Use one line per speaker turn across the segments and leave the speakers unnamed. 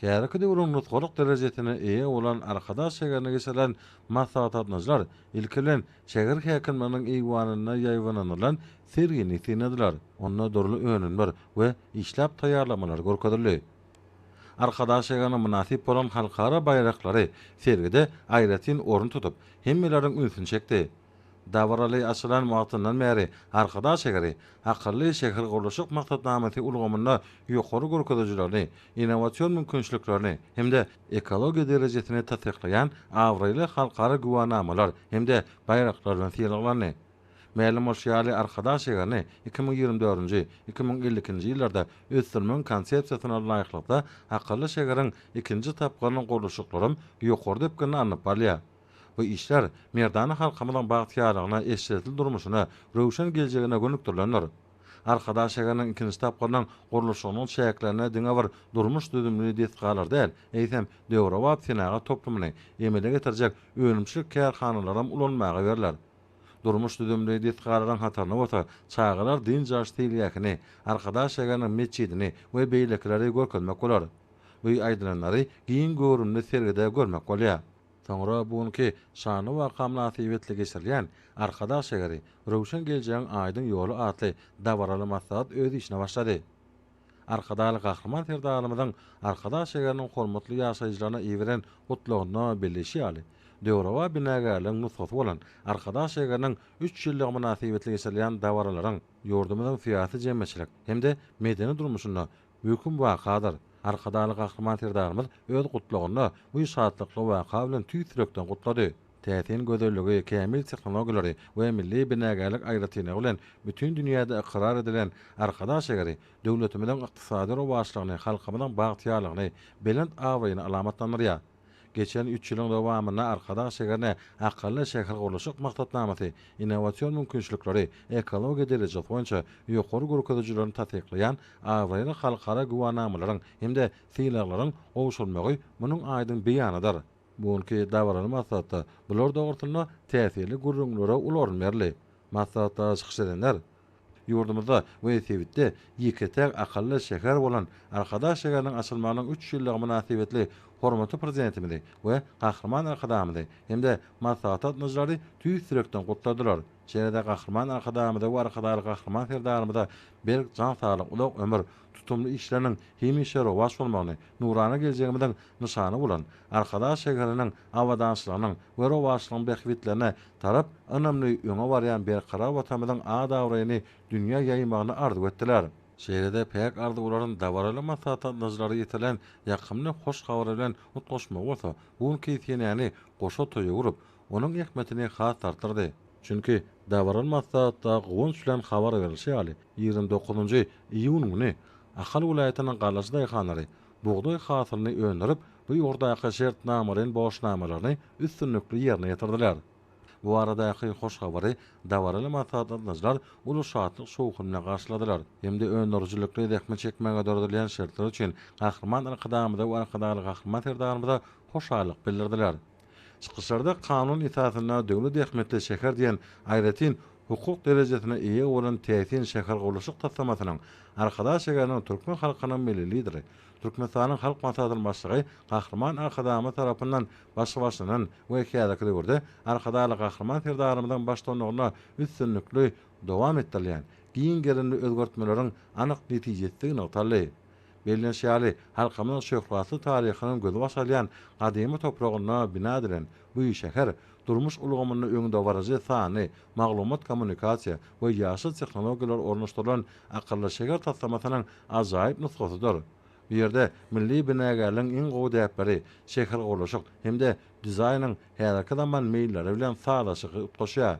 Häzirki döwrüň nusgalyk derejesine eýe bolan Arkadag şägerine geçirilen maslahatlatmajylar ilki bilen şäher häkimliginiň eýwanynda ýaýbanynylan sergini synladylar. Onda dürli önümler we işläp taýýarlamalar görkezildi. Arkadag şägerine mynasyp bolan halkara baýraklary sergide aýratyn orun tutup, hemmeleriň ünsüni çekdi. Dabaraly açylan wagtyndan bäri Arkadag şägeri akylly şähergurluşyk maksatnamasy ulgamynda ýokary görkezijilerini, innowasion mümkinçiliklerini hem-de ekologiýa derejesini tassyklaýan abraýly halkara güwänamalar hem-de baýraklar bilen sylaglandy. Mälim bolşy ýaly, Arkadag şäherini iki müň ýigrimi dördünji, iki müň elli ikinji ýyllarda ösdürmegiň konsepsiýasyna laýyklykda akylly şäheriň ikinji tapgyrynyň gurluşyklaram ýokary depginde alnyp barylýar. Bu işler merdana halkymyzyň bagtyýarlygyna, eşretli durmuşyna, röwşen geljegine gönükdirilendir. Arkadag şäheriniň ikinji tapgyrynyň gurluşygynyň çäklerinde diňe bir durmuş düzümli desgalary däl, eýsem, döwrebap senagat toplumyny emele getirjek önümçilik kärhanalaram ulanmaga berler. Durmuş düzümli desgalaryň hataryna bolsa çagalar dynç alyş seýilgähini, Arkadag şäheriniň metjidini we beýlekileri görkezmek bolar. Bu aýdylanlary giň göwrümli sergide görmek bolýar. Soňra bu günki şanly waka mynasybetli geçirilýän Arkadag şäheri, röwşen geljegiň aýdyň ýoly atly dabaraly maslahat öz işine başlady. Arkadagly Gahryman Serdarymyzyň Arkadag şäheriniň hormatly ýaşaýjylaryna iberen Gutlagynda belleýşi ýaly, döwrebap binagärligiň nusgasy bolan Arkadag şäheriniň üç ýyllygy mynasybetli geçirilýän dabaralaryň ýurdumyzyň syýasy-jemgyýetçilik hem-de medeni durmuşynda Möhüm wakadyr. Arkadagly Gahryman Serdarymyz öz Gutlagynda bu şatlykly waka bilen tüýs ýürekden gutlady. Täsin gözelligi, kämil tehnologiýalary we milli binagärlik aýratynlygy bilen bütin dünýäde ykrar edilen Arkadag şägeri döwletimiziň ykdysady rowaçlygyny, halkymyzyň bagtyýarlygyny, belent abraýyny alamatlandyrýar. Geçen üç ýylyň dowamynda Arkadag şäherine Akylly şähergurluşyk maksatnamasy innowasion mümkinçilikleri, ekologiýa derejesi boýunça ýokary görkezijilerini tassyklaýan abraýly halkara güwänamalaryň hem-de sylaglaryň gowşurylmagy munuň aýdyň beýanydyr. Bu günki dabaraly maslahatda bular dogrusynda täsirli gürrüňlere uly orun berildi. Maslahatda çykyş edenler. Ýurdumyzda we sebitde ýeke-täk akylly şäher bolan Arkadag şäheriniň açylmagynyň üç ýyllygy mynasybetli hormatly Prezidentimizi we Gahryman Arkadagymyzy hem-de maslahat gatnaşyjylary tüýs ýürekden gutladylar. Şeýle-de Gahryman Arkadagymyza we Arkadagly Gahryman Serdarymyza berk jan saglyk, uzak ömür, tutumly işleriniň hemişe rowaç bolmagyny, nurana geljegimiziň nyşany bolan Arkadag şäheriniň abadançylygynyň we rowaçlygyň bähbitlerine tarap ynamly öňe barýan berkarar Watanymyzyň at-abraýyny dünýä ýaýmagyny arzuw etdiler. Şeýle-de päk arzuwlaryny dabaraly maslahat gatnaşyjylary ýetirilen ýakymly hoş habar bilen utgaşmagy bolsa bu günki senäni goşa toýa öwrüp, onuň zähmetini has artdyrdy. Çünki, dabaraly maslahatda guwanç bilen habar berilişi ýaly, ýigrimi dokuzynjy iýun güni Ahal welaýatynyň Galaçy daýhanlary bugdaý hasylyny öndürip, bu ýokardaky şertnamalaýyn borçnamalaryny üstünlikli ýerine ýetirdiler. Bu baradaky hoş habary dabaraly maslahat gatnaşyjylar uly şatlyk-şowhun bilen garşyladylar hem-de öndürijilikli zähmet çekmäge döredilýän şertler üçin Gahryman Arkadagymyza we Arkadagly Gahryman Serdarymyza hoşallyk bildirdiler. Çykyşlarda kanun esasynda döwlet ähmiýetli şäher diýen aýratyn hukuk derejesine eýe bolan täsin şähergurluşyk taslamasynyň Arkadag şäheriniň türkmen halkynyň Milli Lideri, Türkmenistanyň Halk Maslahatynyň Başlygy Gahryman Arkadagymyz tarapyndan başlanýan we häzirki döwürde Arkadagly Gahryman Serdarymyzyň baştutanlygynda üstünlikli dowam etdirilýän giň gerimli özgertmeleriň anyk netijesdigi nygtaldy. Bellenişi ýaly, halkymyzyň şöhratly taryhynyň gözbaş alýan gadymy topragynda bina edilen bu şäher durmuş ulgamynda öňdebaryjy sanly, maglumat-kommunikasiýa we ýaşyl tehnologiýalar ornaşdyrylan akylly şäher taslamasynyň ajaýyp nusgasydyr. Bu ýerde milli binagärligiň iň gowy däpleri, şähergurluşyk hem-de dizaýnyň häzirki zaman meýilleri bilen sazlaşygy utgaşýar.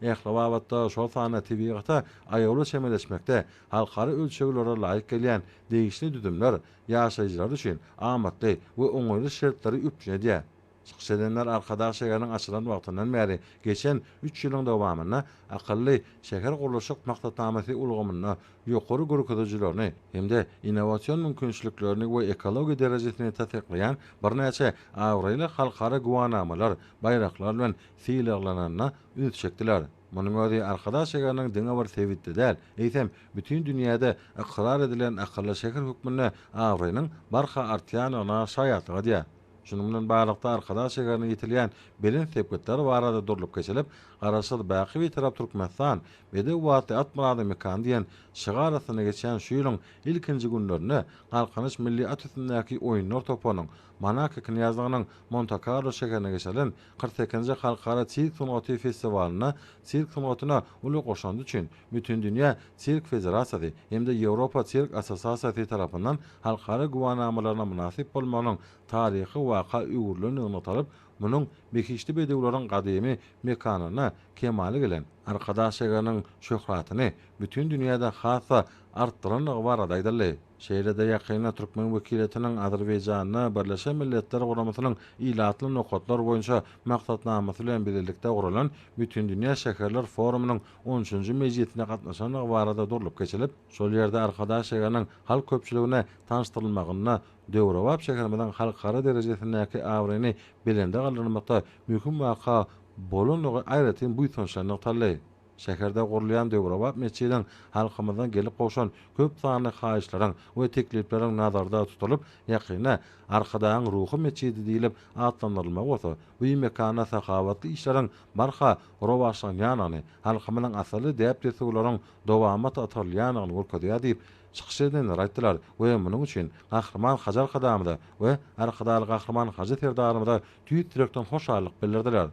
Ähli babatda, şol sanda tebigata aýawly çemeleşmekde halkara ölçeglere laýyk gelýän degişli düzümler ýaşaýjylar üçin amatly we oňaýly şertleri üpjün edýär. Çykyş edenler Arkadag şäheriniň açylan wagtyndan bäri geçen üç ýylyň dowamynda akylly şähergurluşyk maksatnamasy ulgamynda ýokary görkezijilerini hem-de innowasion mümkinçiliklerini we ekologiýa derejesini tassyklaýan birnäçe abraýly halkara güwänamalar, baýraklar bilen Sylaglananyna üns çekdiler. Munuň özi Arkadag şäheriniň diňe bir sebitde däl, eýsem, bütin dünýäde ykrar edilen akylly şäher hökmünde abraýynyň barha artýandygyna şaýatlyk edýär. Şunuň bilen baglylykda Arkadag şäherine ýetilýän belent sepgitler barada durlup geçilip, Garaşsyz, baky Bitarap Türkmenistan, Bedew atly at myradyň mekany diýen şygar astynda geçýän şu ýylyň ilkinji günlerinde Galkynyş milli at üstündäki oýunlar toparynyň Monako knýazlygynyň Monte-Karlo şäherine geçirilen Kyrk sekizinji Halkara sirk sungaty festiwalynda sirk sungatyna uly goşandy üçin Bütindünýä sirk federasiýasy hem-de Ýewropa sirk assosiasiýasy tarapyndan halkara güwänamalaryna mynasyp bolmagynyň taryhy waka öwrülendigi nygtalyp, munuň behişdi bedewleriň gadymy mekanyna kemala gelen Arkadag şägeriniň şöhratyny bütin dünýäde has-da artdyrandygy barada aýdyldy. Şeýle-de ýakynda türkmen wekiliýetiniň Azerbaýjanda Birleşen Milletler Guramasynyň ilatly nokatlar boýunça maksatnamasy bilen bilelikde guralan Bütindünýä şäherler forumynyň on üçünji mejlisine gatnaşandygy barada durlup geçilip, şol ýerde Arkadag şäheriniň halk köpçüligine tanyşdyrylmagynda döwrebap şäherimiziň halkara derejesindäki abraýyny belende galdyrmakda möhüm waka bolandygy aýratyn buýsançly nygtaldy. Şäherde gurulýan döwrebap metjidiň halkymyzdan gelip gowşan köp sanly haýyşlaryň we teklipleriň nazarda tutulyp, ýakynda Arkadagyň ruhy metjidi diýlip atlandyrylmagy bolsa, bu mekanda sahawatly işleriň barha rowaçlanýandygyny, halkymyzyň asylly däp-dessurlaryň dowamat atarylýandygyny görkezýär diýip, çykyş edenler aýtdylar we munuň üçin Gahryman Hajy Arkadamyza we Arkadagly Gahryman Hajy Serdarymyza tüýs ýürekden hoşallyk bildirdiler.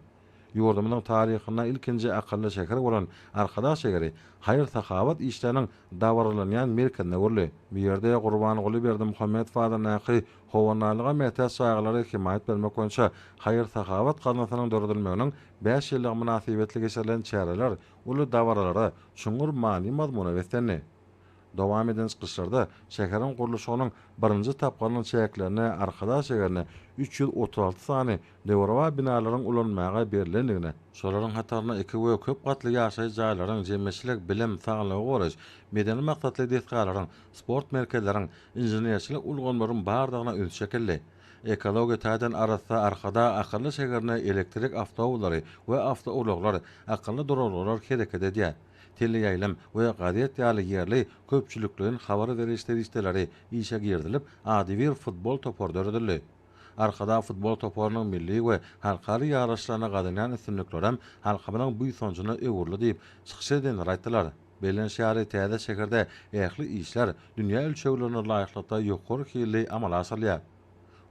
Ýurdumyzyň taryhynda ilkinji akylly şäher bolan Arkadag şägeri haýyr-sahawat işleriniň dabaralanýan merkezine öwrüldi. Bu ýerde Gurbanguly Berdimuhamedow adyndaky Howandarlyga mätäç çagalara hemaýat bermek boýunça haýyr-sahawat gaznasynyň döredilmeginiň bäş ýyllygy mynasybetli geçirilen çäreler uly dabaralara, çuňňur many-mazmuna beslendi. Dowam eden çykyşlarda şäheriň gurluşygynyň birinji tapgyrynyň çäklerinde Arkadag şäherine üç ýüz otuz alty sany döwrebap binalaryň ulanmaga berlendigine, şolaryň hatarynda iki we köp gatly ýaşaýyş jaýlaryň, jemgyýetçilik, bilim, saglygy goraýyş, medeni maksatly desgalaryň, sport merkezleriň, inženerçilik ulgamlaryň bardygyna üns çekildi. Ekologiýa taýdan arassa Arkadag akylly şäherinde elektrik awtoullary we awtoulaglar, akylly duralgalar hereket edýär. teleýaýlym we gazet ýaly ýerli köpçülikleýin habar beriş serişdeleri işe girizilip, adybir futbol topary döredildi. Arkadag futbol toparynyň milli we halkara ýaryşlarynda gazanýan üstünlikleri hem halkymyzyň buýsanjyna öwrüldi diýip, çykyş edenler aýtdylar. Belent şäheri täze şäherde ähli işler dünýä ölçeglerine laýyklykda ýokary hilli amala aşyrylýar.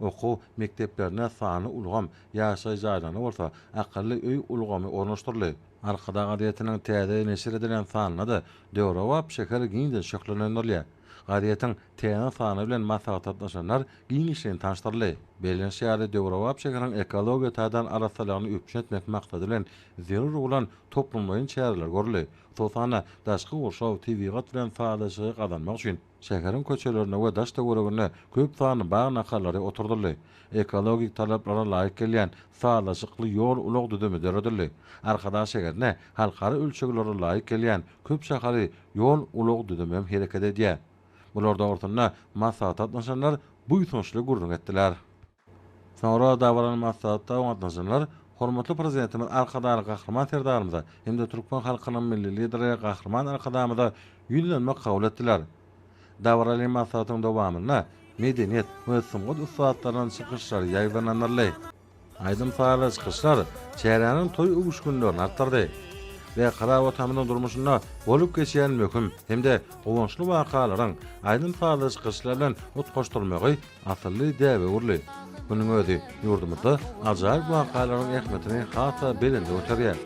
Okuw mekdeplerine sanly ulgam, ýaşaýyş jaýlaryna bolsa akylly öý ulgamy ornaşdyryldy. Arkadag gazetiniň täze neşir edilen sanynda-da döwrebap şäher giňden şöhlelendirilýär. Gazetiň täze sany bilen maslahatdaşlaşanlar giňişleýin tanyşdyryldy. Bellenişi ýaly, döwrebap şäheriň ekologiýa taýdan arassalygyny üpjün etmek maksady bilen zerur bolan toplumlaýyn çäreler görüldi. Hususan-da, daşky gurşaw, tebigat bilen sazlaşygy gazanmak üçin, Şäheriň köçelerine we daş-töweregine köp sanly bag nahalary oturdyldy. Ekologik talaplara laýyk gelýän sazlaşykly ýol-ulag düzümi döredildi. Arkadag şäherine halkara ölçeglere laýyk gelýän köp şahaly ýol-ulag düzümi hem hereket edýär. Bular dogrusynda maslahata gatnaşanlar buýsançly gürrüň etdiler. Soňra dabaraly maslahatda gatnaşanlar Hormatly Prezidentimiz Arkadagly Gahryman Serdarymyza hem-de türkmen halkynyň Milli Lideri Gahryman Arkadagymyza ýüzlenmek kabul etdiler. Dabaraly maslahatyň dowamynda medeniýet we sungat ussatlarynyň çykyşlary ýaýbaňlandyryldy. Aýdym-sazly çykyşlar çäräniň toý öwüşginlerini artdyrdy we Karabogtamyzyň durmuşynda bolup geçýän möhüm hem-de guwançly wakalaryň aýdym-sazly çykyşlar bilen utgaşdyrylmagy Asylly däbe-ugurly Munuň özi ýurdumyzda ajaýyp wakalaryň ähmiýetini has-da belende göterýär.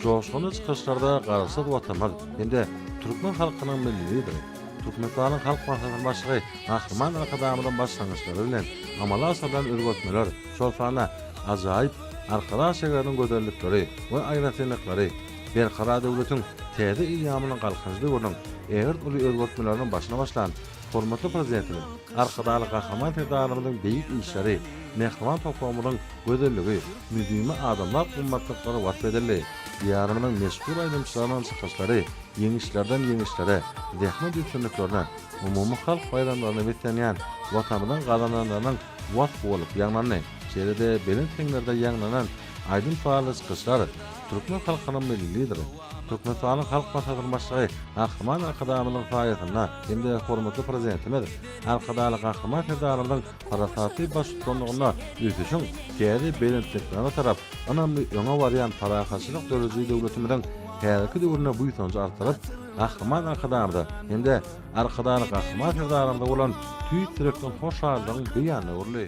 Joşgunly çykyşlarda Garaşsyz Watanymyz hem-de türkmen halkynyň Milli Lideri, Türkmenistanyň Halk Maslahatynyň Başlygy Gahryman Arkadagymyzyň başlangyçlary bilen amala aşyrylan özgertmeler, şol sanda ajaýyp Arkadag şäheriniň gözellikleri we aýratynlyklary Berkarar döwletiň täze eýýamynyň galkynyş döwrüniň ägirt uly özgertmeleriniň başyny başlan Hormatly Prezidentimiz Arkadagly Gahryman Serdarymyzyň beýik işleri, mähriban topragymyzyň gözelligi, müdimi adamzat gymmatlyklary wasp edildi. Diýarymyzyň meşhur aýdymçylarynyň çykyşlary ýeňişlerden ýeňişlere, zähmet üstünliklerine, umumy halk baýramlaryna beslenýän Watanymyzyň gazananlarynyň wasp bolup ýaňlandy. Şeýle-de belent heňlerde ýaňlanan aýdym-sazly çykyşlar türkmen halkynyň Milli Lideri, Türkmenistanyň Halk Maslahatynyň Başlygy Gahryman Arkadagymyzyň saýasynda hem-de hormatly Prezidentimiz Arkadagly Gahryman Serdarymyzyň parasatly baştutanlygynda ösüşiň täze belentliklerine tarap ynamly öňe barýan parahatçylyk döredijilik döwletimiziň häzirki döwründe buýsanjy artdyryp, Gahryman Arkadagymyza hem-de Arkadagly Gahryman Serdarymyza bolan tüýs ýürekden hoşallygyň beýanyna öwrüldi.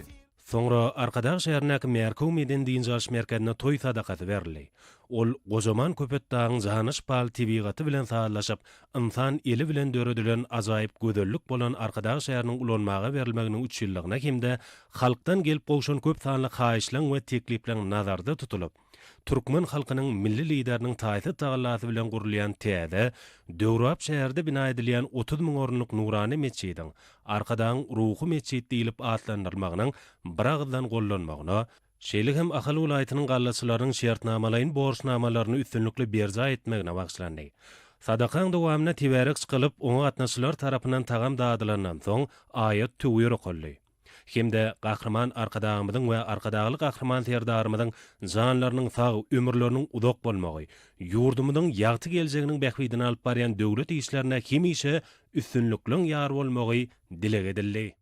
Soňra
Arkadag şäherindäki Märküw medeni-dynç alyş merkezinde toý sadakasy berildi. Ol gojaman Köpetdagyň jana şypaly tebigaty bilen sazlaşyp, ynsan eli bilen döredilen ajaýyp gözellik bolan Arkadag şäheriniň ulanmaga berilmeginiň üç ýyllygyna hem-de halkdan gelip gowşan köp sanly haýyşlaň we teklipleň nazarda tutulyp, Türkmen halkynyň Milli Lideriniň taýsyz tagallasy bilen gurulýan täze, döwrebap şäherde bina edilýän otuz müň orunlyk nurana metjidiň Arkadagyň ruhy metjit diýlip atlandyrylmagynyň biragyzdan gollanmagyna, şeýle hem Ahal welaýatynyň gallaçylarynyň şertnamalaýyn borçnamalaryny üstünlikli berjaý etmegine bagyşlandy. Sadakaň dowamynda tebärek çykylyp, oňa gatnaşyjylar tarapyndan tagam dadylandan soň, aýat-töwir okaldy. hem-de Gahryman Arkadagymyzyň we Arkadagly Gahryman Serdarymyzyň janlarynyň sag, ömürleriniň uzak bolmagy, ýurdumyzyň ýagty geljeginiň bähbidine alyp barýan döwlet işlerine hemişe üstünlikleň ýar bolmagy dileg edildi.